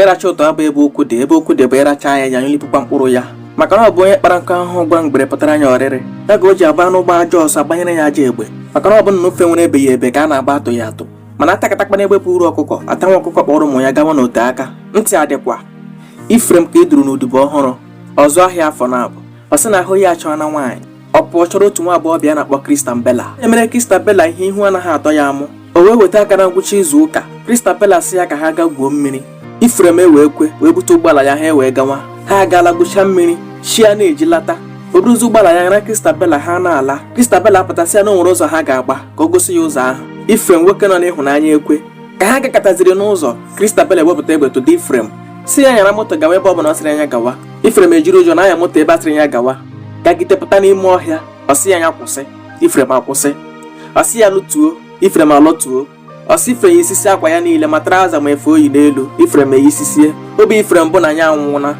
ịracha ụtọ abụ ebe okwu dị ebe okwu dị bụ ịracha ya ya nyụlipụkwa mkpụrụ ya maka na ọ bụ onye kpara nkụ ahụhụ gwa ngwere pụtara nya ọrịrị ya ka o ji abụ anụ gbaa ajọ ọsọ agbanyere ya ajọ egbe maka na ọ bụ na o fenwere ebeghị ebe ka a na-agba atụghị atụ mana atakatakwanụ egbe buuru ọkụkọ atanwa ọkụkọ kpọrọ ụmụ ya gawa n'ote aka ntị adịkwa ifrem ka e duru n'odibo ọhụrụ ọ zụọ ahịa afọ naabụ ọ sị na ahụ ya achọọna nwaanyị ọ pụọ chọrọ otu nwa agbọghọbịa a na-akpọ Christabella e mere Christabella ihe ihu anaghị atọ ya amụ o wee weta aka na ngwụcha izu ụka Christabella sị ya ka ha gaa gwuo mmiri Ifrem ewee kwe wee bute ụgbọala ya ha ewee gawa ha agaala gwuchaa mmiri chi ana-eji lata o buruzi ụgbọala ya ya na Christabella ha na-ala Christabella apụta sị ya na o nwere ụzọ ha ga-agba ka o gosi ya ụzọ ahụ Ifrem nwoke nọ n'ịhụnanya ekwe ka ha gakataziri n'ụzọ Christabella ewepụta egbe tụda Ifrem sị ya nyara moto gawa ebe ọ bụla ọ sịrị nya gawa Ifrem ejiri ụjọ na-anya moto ebe a sịrị ya gawa gagide pụta n'ime ọhịa ọ sị ya ya kwụsị Ifrem akwụsị ọ sị ya lọtuo Ifrem alọtuo ọ sị Ifrem yisisie akwa ya niile ma traụza ma efe o yi n'elu Ifrem eyisisie obi Ifrem bụ na ya anwụna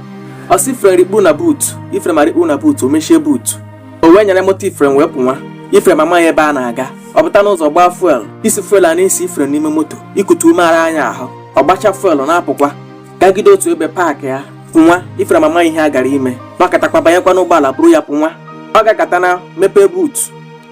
ọ sị Ifrem rikpu na buutu Ifrem arikpu na buutu o mechie buutu o wee nyara moto Ifrem wee pụnwa Ifrem amaghị ebe a na-aga ọ pụta n'ụzọ gbaa fuel isi fuel ana-esi Ifrem n'ime moto ikute ume ara nya ahụ ọ gbacha fuel na-apụkwa gagide otu ebe paakị ya pụnwa ifrem amaghị ihe a gara ime nọkatakwa banyekwa n'ụgbọala buru ya pụnwa ọ gakata na mepee buutu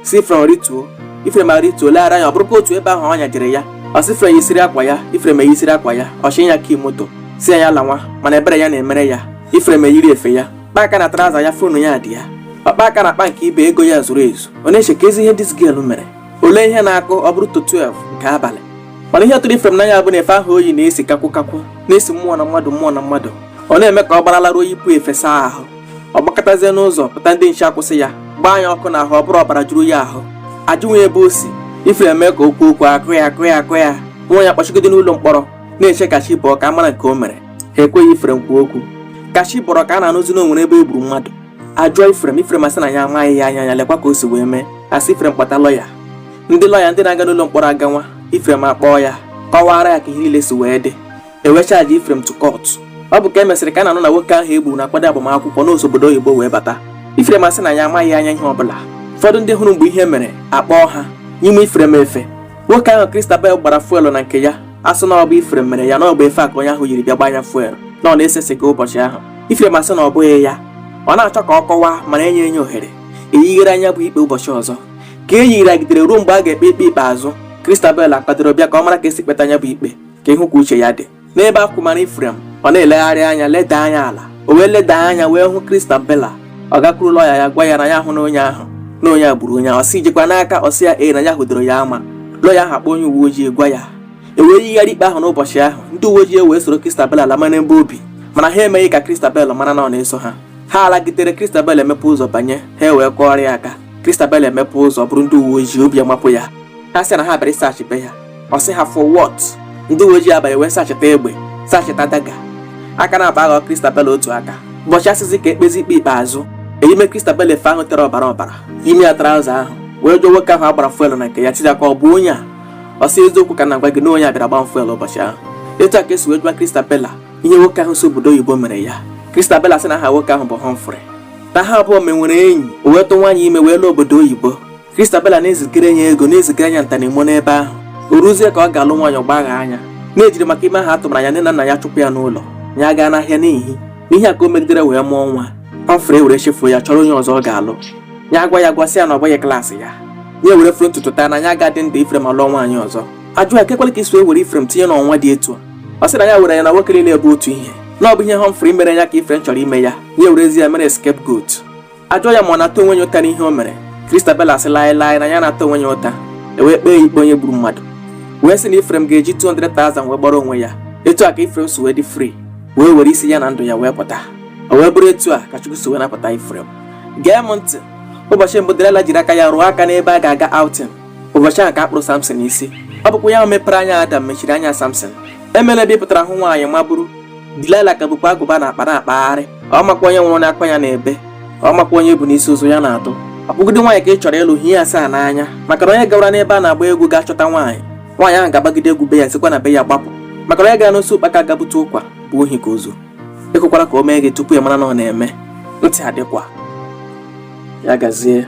sị ifrem rituo ifrem arituo leghara anya ọ bụrụkwa otu ebe ahụ ọ nyajere ya ọ sị ifrem yisiri akwa ya ifrem eyisiri akwa ya ọ chị ya kii moto sị ya lanwa mana ebere ya na-emere ya ifrem eyiri efe ya kpa aka na traụza ya fonu ya dị ya ọ kpa aka na akpa nke ibe ego ya zuru ezu ọ na-echekazi ihe this girl mere o lee ihe na-akụ ọ bụrụ to 12 nke abalị mana ihe tụrụ ifrem n'anya bụ na efe ahụ o yi na-esi kakwụ kakwụ na-esi mmụọ na mmadụ mmụọ na mmadụ ọ na-eme ka ọ gbara laruo yipụ efe saa ahụ ọ gbakatazie n'ụzọ pụta ndị nche akwụsị ya gbaa nya ọkụ n'ahụ ọ bụrụ ọbara juru ya ahụ ajụnwa ya ebe o si ifrem mee ka o kwuo okwu akụ ya akụ ya akụ ya nwa ya kpọchigide n'ụlọ mkpọrọ na-eche ka chi bọọ ka a mara nke o mere ha ekweghị ifrem kwuo okwu ka chi bọrọ ka a na-anụzi na o nwere ebe e gburu mmadụ ajụọ ifrem ifrem asị na ya amaghị ya anya ya lekwa ka o si wee mee asị ifrem kpọta lọya ndị lọya ndị na-aga n'ụlọ mkpọrọ aganwa ifrem akpọọ ya kọwara ya ka ihe niile si wee dị e wee chaajị ifrem to court ọ bụ ka e mesịrị ka a na-anụ na nwoke ahụ e gburu na-akwado agbamakwụkwọ na o si obodo oyibo wee bata ifrem asị na ya amaghị anya ihe ọbụla ụfọdụ ndị hụrụ mgbe ihe mere akpọọ ha nyime ifrem efe nwoke ahụ kristabel gbara fuelu na nke ya a sị na ọ bụ Ifrem mere ya na ọ bụ efe a ka onye ahụ yiri bịa gbanye fuel na ọ na-ese siga ụbọchị ahụ Ifrem asị na ọ bụghị ya ọ na-achọ ka ọ kọwaa mana enyeghị nya ohere eyigharịa nya bụ ikpe ụbọchị ọzọ ka e yigharịgidere ruo mgbe a ga-ekpe ikpe ikpeazụ Christabella kwadoro bịa ka ọ mara ka e si kpeta nya bụ ikpe ka ịhụ ka uche ya dị n'ebe a kwụmara Ifrem ọ na-elegharị anya leda anya ala o wee leda anya wee hụ Christabella ọ gakwuru lọya ya gwa ya na ya ahụna onye ahụ na onye a gburu onye ahụ ọ sị i jikwa n'aka ọ sị ya ee na ya hụdoro ya ama lọya ahụ akpọ onye uwe ojii gwa ya e wee yigharị ikpe ahụ n'ụbọchị ahụ ndị uwe ojii wee soro Christabella lama n'ebe o bi mana ha emeghị ka Christabel mara na ọ na-eso ha ha alagidere Christabel emepe ụzọ banye ha e wee kụọrọ ya aka Christabel emepe ụzọ bụrụ ndị uwe ojii obi amapụ ya ha sị na ha bịara ịsachị be ya ọ sị ha for what ndị uwe ojii abanye wee sacheta egbe sacheta daga aka naabọ aghọọ Christabella otu aka ụbọchị a sịzi ka e kpezie ikpe ikpeazụ eyime Christabella efe ahụ tere ọbara ọbara yime ya traụza ahụ wee jụọ nwoke ahụ a gbara fuelu na nke ya sị ya ka ọ bụ onye a ọ sị eziokwu ka m na-agwa gị na onye a bịara gba fuelu ụbọchị ahụ etu a ka e si wee jụọ Christabella ihe nwoke ahụ si obodo oyibo mere ya Christabella sị na aha nwoke ahụ bụ Humphrey na ha abụọ menwere enyi o wee tụnwa ya ime wee laa obodo oyibo Kristabela na-ezigara ya ego na-ezigara ya nta na imo n'ebe ahụ o ruzie ka ọ ga-alụ nwaanyị ọ gbaghaa ya na e jiri maka ime ahụ a tụmara ya nne na nna ya chụpụ ya n'ụlọ ya gaa n'ahịa n'ihi na ihe a ka o megidere wee mụọ nwa Humphrey ewere chefuo ya chọrọ onye ọzọ ọ ga-alụ ya agwa ya gwasị ya na ọ bụghị klaasị ya ya ewere foro ntutu taa na ya agadị ndụ ifrem alụọ nwaanyị ọzọ ajụọ ya kekwala ka i si were ifrem tinye n'ọnwa dị etu a ọ sị na ya were ya na nwoke niile bụ otu ihe na ọ bụ ihe Humphrey mere ya ka ifrem chọrọ ime ya ya werezi ya mere scapegoat ajụọ ya ma ọ na-ata onwe ya ụta n'ihe o mere Christabella sị laịlaị na ya na-ata onwe ya ụta ewee kpee ya ikpe onye gburu mmadụ wee sị na Ifrem ga-eji 200,000 wee gbara onwe ya etu a ka Ifrem si wee dị free wee were isi ya na ndụ ya wee pụta o wee bụrụ etu a ka Chukwu si wee napụta Ifrem gee m ntị ụbọchị mbụ Delila jiri aka ya rụọ aka n'ebe a ga-aga outing ụbọchị ahụ ka a kpụrụ Samson isi ọ bụkwa ya mepere anya Adam mechiri anya Samson emela ebe ị pụtara hụ nwaanyị ma buru Dilaịla ka bukwa agụba n'akpa na-akpagharị ọ makwa onye nwụrụ n'akwa ya na-ebe ọ makwa onye bu n'isi ozu ya na-atụ ọ bụgide nwaanyị ka ị chọrọ ịlụ hie asaa n'anya maka na onye gawara n'ebe a na-agba egwu ga chọta nwaanyị nwaanyị ahụ ga-agbagide egwu be ya sikwa na be ya gbapụ maka na onye gara n'osi ụkpaka gabute ụkwa bụ ohi ka o zu ekwekwala ka o mee gị tupu ị mara na ọ na-eme ntị adịkwa ya gazie